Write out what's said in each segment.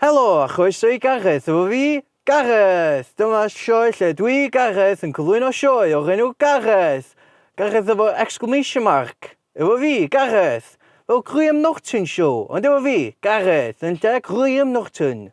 Helo a chroeso i Gareth efo fi, Gareth! Dyma sioe lle dwi, Gareth, yn cyflwyno sioe o'r enw Gareth! Gareth efo'r exclamation mark! Efo fi, Gareth! Fel Graham Norton show, ond efo fi, Gareth, yn lle Graham Norton!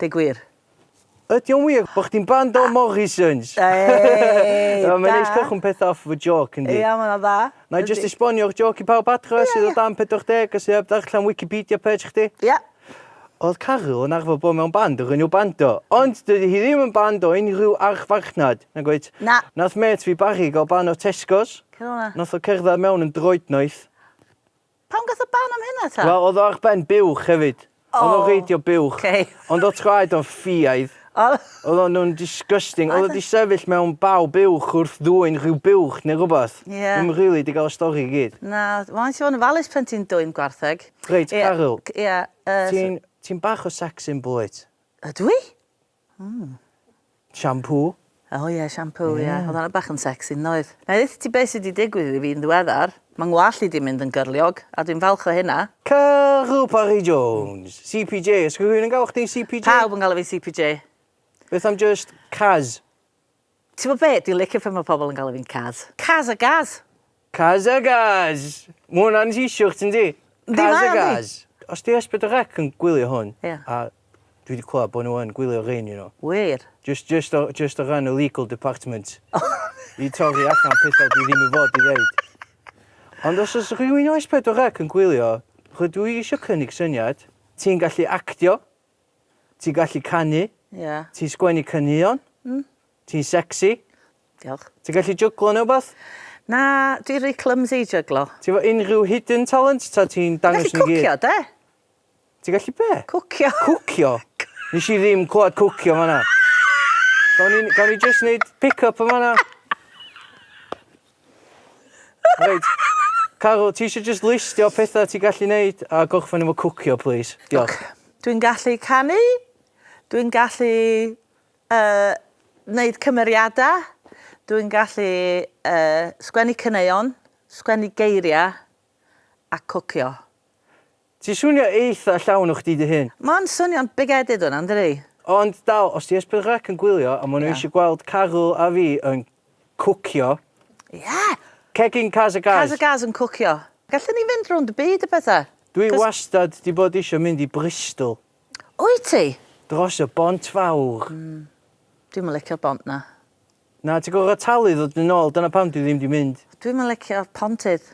Deu gwir. Ydy o'n wir bod chdi'n band o Morrisons? Eeii, da! Mae'n neis cychwyn pethau off efo jôc, yndi? Ia, mae'n dda. Wna i jyst esbonio'r jôc i pawb adra sydd o dan 40 a sydd heb ddarllen Wikipedia page chdi. Ia. Oedd Caryl yn arfer bod mewn band o'r enw Bando, ond dydy hi ddim yn band o unrhyw archfarchnad, nag wyt? Na. Nath mêt fi Barry gael ban o Tesco's. Cyn hwnna? Nath o cerdded mewn yn droednoeth. Pam gath y ban am hynna ta? Wel odd o ar ben buwch hefyd. Oh. Odd o'n reidio buwch. Okay. Ond odd traed o'n ffiaidd. Oh. Odd o'n nhw'n disgusting. Odd o di sefyll mewn baw buwch wrth ddwyn rhyw buwch neu rhywbeth. Ie. Yeah. Ddim rili di gael y stori i gyd. Na, mae'n ti fod yn falus pen ti'n dwyn gwartheg. Reit, Caryl. Ie. Ti'n bach o sex symbol wyt? Ydw i? Hmm. Shampoo. O oh, ie, yeah, shampoo, ie. Yeah. Yeah. Oedd hwnna bach yn sexy, yn oedd? Na i ti beth sydd wedi digwydd iddi fi yn ddiweddar. Mae ngwallt i di mynd yn gyrliog, a dwi'n falch o hynna. Caru Parry Jones, CPJ. Ysgwyd yn gael chdi CPJ? Pawb yn gael fi CPJ. Beth am just Caz? Ti'bo be, dwi'n licio pan mae pobl yn galw fi'n Kaz. Kaz a Gaz! Kaz a Gaz! Mae hwnna'n t-shirt yndi? Yndi, mae o, yndi. Kaz a Gaz. Os 'di Ysbyty Rec yn gwylio hwn... Ia. ...a dwi 'di clywed bod nhw yn gwylio rhein you know. Wir? Jyst jyst o jyst o ran y legal department i torri allan pethau dwi ddim i fod i ddeud. Ond os oes rhywun o S4C yn gwylio, rydw i isio cynnig syniad. Ti'n gallu actio. Ti'n gallu canu. Ie. Ti'n sgwennu caneuon. Mm. Ti'n sexy. Diolch. Ti'n gallu jyglo neu wbath? Na, dwi rhy clumsy i jyglo. Ti fo unrhyw hidden talent ta ti'n dangos nhw gyd? Ti'n gallu cwcio, de? Ti'n gallu be? Cwcio. Cwcio? Nes i ddim clywed cwcio fanna. Gawn ni, gawn ni just neud pick-up yn fanna? Reit. Carol, ti eisiau just listio pethau ti'n gallu neud a gorffen efo cwcio, plis? Diolch. Dwi'n gallu canu, dwi'n gallu uh, neud cymeriadau, dwi'n gallu uh, sgwennu cyneuon, sgwennu geiriau a cwcio. Ti'n swnio eitha llawn o chdi dy hun. Ma'n swnio'n bigheaded hwnna, yndydi? Ond dal, os 'di Ysbyd Grac yn gwylio a ma' nhw Ie. isio gweld Caryl a fi yn cwcio, Ie! Cegin Kaz a Gaz. Kaz a Gaz yn cwcio. Gallwn ni fynd rownd y byd a petha. Dwi 'Cos- wastad 'di bod isio mynd i Bristol. Wyt ti? Dros y Bont Fawr. Dwi'm yn licio'r bont 'na. Na, ti gorfod talu i ddod yn ôl, dyna pam dwi ddim di mynd. Dwi'm yn licio pontydd.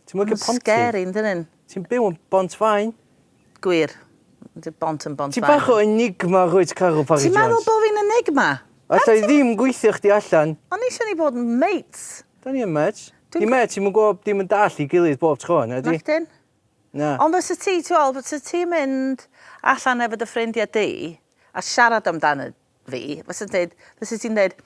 Ti'm yn licio pontydd? Ma'n scary yn dyn nhw. Ti'n byw yn Bont Faen. Gwir. Dy bont yn Bont Faen. Ti bach o enigma rwyt Caryl Parry Jones. Ti'n meddwl bo fi'n enigma? Alla i ddim gweithio chdi allan. O'n i isio ni fod yn mates. Da ni yn mates. Ni mêt ti'm yn gwybod dim yn dall i gilydd bob tro, na di? Nachdyn. Na. Ond fysa ti, ti'n gweld, fysa ti'n mynd allan efo dy ffrindiau di a siarad amdano fi, fysa deud, fysa ti'n deud,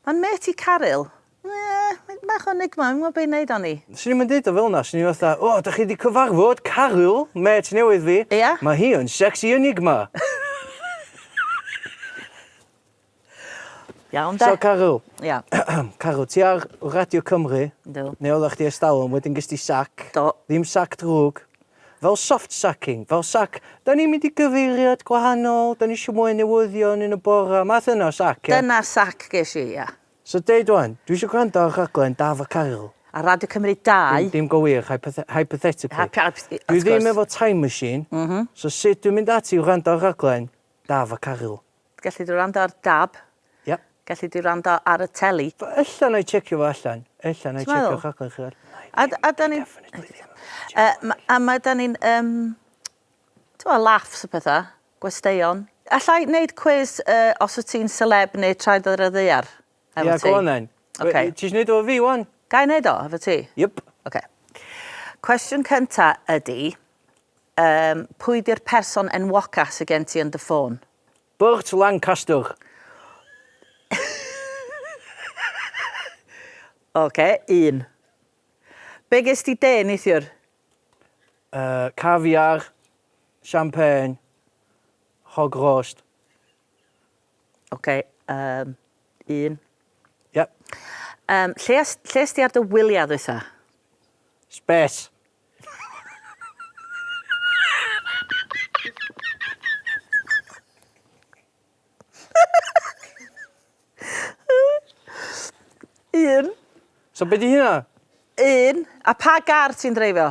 mae'n mêt i Caryl. Ie, mae'n bach o enigma, fi'n gwybod be i wneud âni. Swn i'm yn deud o fel yna, swn i'n fatha, o, da chi wedi cyfarfod Caryl, mêt newydd fi. Ia? Mae hi yn sexy enigma. Iawn de. So Caryl. Ia. Caryl, ti ar Radio Cymru. Yndw. Neu oeddach chdi ers talwm, wedyn ges di sac. Do. Ddim sac drwg. Fel soft sacking, fel sac, dan ni'n mynd i gyfeiriad gwahanol, dan ni isio mwy o newyddion yn y bore, math yna o sac, ie? Dyna'r sac ges i, ie. So deud ŵan, dwi isio gwrando ar rhaglen Daf a Caryl. Ar Radio Cymru 2. Dim go wir, hypothe- hypothetically. Hyp- hyp- wrth gwrs. Dwi ddim efo time machine, so sut dwi'n mynd ati i wrando ar rhaglen Daf a Caryl? Gelli di wrando ar Dab. Ie. Gelli di wrando ar y teli. Ella na i checio fo allan. Ella na i checio rhaglen chi allan. A, a da ni... a mae da ni'n, um, ti'n laughs y pethau, gwesteion. Alla i wneud cwis uh, os wyt ti'n celeb neu traed ar y ddeiar? Efo ti. Ia, go on then. Oce. Ti isio neud o efo fi ŵan? Ga i neud o efo ti? Yep. Oce. Cwestiwn cynta ydi, um, pwy di'r person enwoca sy gen ti yn dy ffôn? Burt Lancaster. Oce, un. Be ges ti de neithiwr? Uh, caviar, champagne, hog roast, Ok, um, un. Yep. Um, lle, lle ysdi ar dy wyliau ddwytha? Space. Un. So beth di hynna? Un. A pa gar ti'n dreifio?